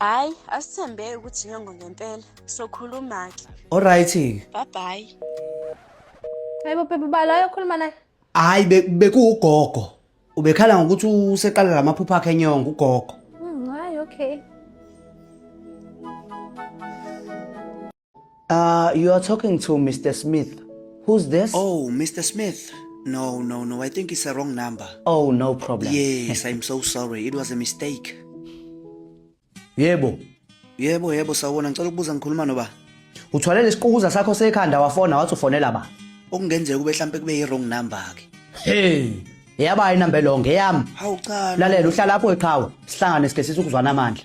hayi asithembeki ukuthi nyongo ngempela sokhuluma-ke olright-ke babhayi hayi bophepha ubala ayokhuluma naye hhayi be- bekuwugogo ubekhala ngokuthi useqala la maphupho akhe enyongo ugogo Mm, hayi okay Uh, you are talking to Mr. Smith. Who's this? Oh, Mr. Smith. No, no, no. I think it's a wrong number. Oh, no problem. Yes, I'm so sorry. It was a mistake. Yebo. Yebo, yebo sawona. Ngicela ukubuza ngikhuluma noba. Uthwale lesiqukuza sakho sekhanda wafona wathi ufonela ba. Okungenzeka kube mhlambe kube i wrong number ke. Hey. Yaba inamba lo ngeyami. Hawu cha. Lalela uhlala lapho eqhawe. Sihlangane sikesisa ukuzwana amandla.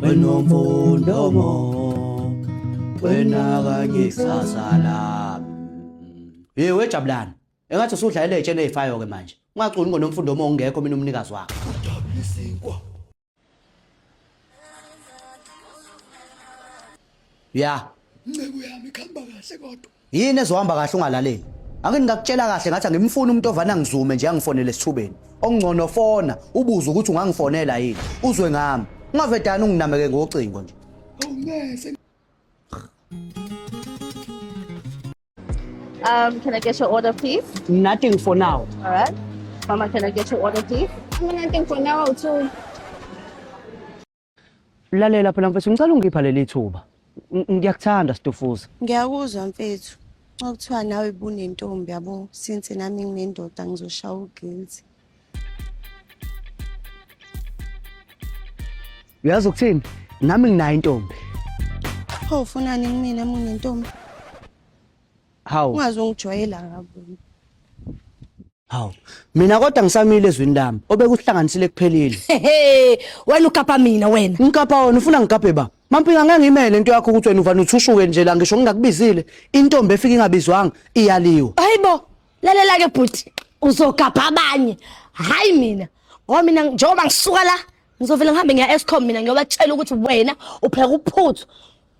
wena umfundo mo wena kanye kusasa lami hey wejabulani engathi usudlalela ejene ezifayo ke manje ungaculi ngonomfundo mo ungekho mina umnikazi wakhe ya nceku yami khamba kahle kodwa yini ezohamba kahle ungalaleli ake ngingakutshela kahle ngathi angimfuni umuntu ovana ngizume nje angifonele esithubeni okungcono fona ubuze ukuthi ungangifonela yini uzwe ngami ungavedani unginameke ngocingo nje awungese Um, can I get your order, please? Nothing for now. All right. Mama, can I get your order, please? I'm nothing for now, too. Lalela phela mfethu ngicela ungipha leli thuba. Ngiyakuthanda Stufuza. Ngiyakuzwa mfethu. Okuthiwa nawe bunentombi yabo since nami nginendoda ngizoshaya uguilty. Uyazi ukuthini? Nami nginayo intombi. Pho ufunani kumina mina intombi? Hawu. Ungaze ungijwayela ngabo. Hawu, mina kodwa ngisamile ezwini lami obekuhlanganisile kuphelile. Hehe, wena ukapa mina wena. Ngikapha wena ufuna ngikaphe ba. Mampinga ngeke ngimele into yakho ukuthi wena uvana uthushuke nje la ngisho ngingakubizile. Intombi efika ingabizwanga iyaliwa. Hayibo, lalela ke bhuti, uzogabha abanye. Hayi mina. Ngoba mina njengoba ngisuka la, ngizovela ngihambe ngiya eScom mina ngiyobatshela ukuthi wena upheka uphuthu.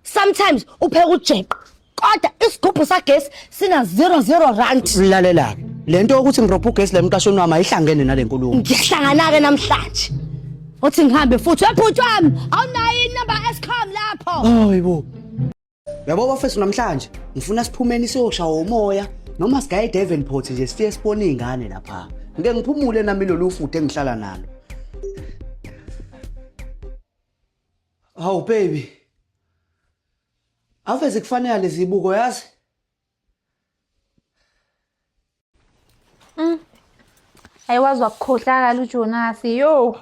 sometimes upheka ujeqo kodwa isigubhu sagesi sina 00 rand lalela-ke le nto yokuthi ngiropha ugesi la emqashweni wami ayihlangene nale nkulumo ngiyahlangana-ke namhlanje uthi ngihambe futhi webhuti wami awunayo inumber escom lapho hayi bo yabo bafethu namhlanje ngifuna siphumeni siyoshaya umoya noma sigaye edavenport nje sifike sibone iy'ngane lapha ngike ngiphumule nami lolu futhi engihlala nalo Hawu baby. Ave zikufanele lezi buko yazi. Mm. Ayiwazi wakukhohlakala uJonas. Yo.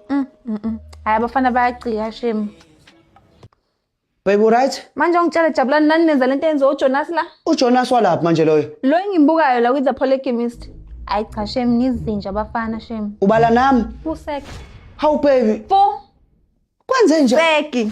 Mm. mm, mm. Hayi abafana bayagcika shame. Babe right? Manje ongitshela jabula nani nenza lento yenza uJonas la? UJonas walaphi manje loyo? Lo engimbukayo la with the polygamist. Ayi cha shem nizinja abafana shem. Ubala nami. Usek. How baby? Fo. Kwenze nje. Seki.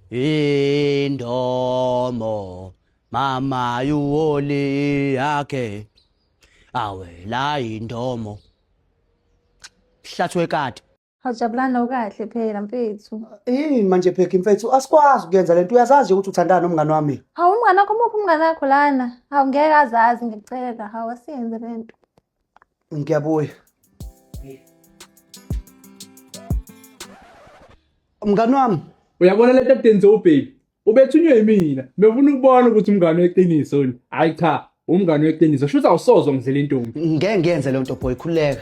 indomo mama yuwoli yakhe awela indomo hlathwe kade Awujabulani ukahle phela mfethu. Yini manje phekha mfethu asikwazi ukuyenza lento uyazazi ukuthi uthandana nomngane wami. Hawu umngane wakho muphi umngane wakho lana? Hawu ngeke azazi ngicela. Hawu asiyenze lento. Ngiyabuya. Mngani wami, Uyabona lento edenze ubheki. Ubethunywe yimina. Befuna ukubona ukuthi umngane weqiniso ni. Hayi cha, umngane weqiniso. Shuthi awusozwa ngidlela intombi. ngeke ngiyenze leyo nto boy, khululeka.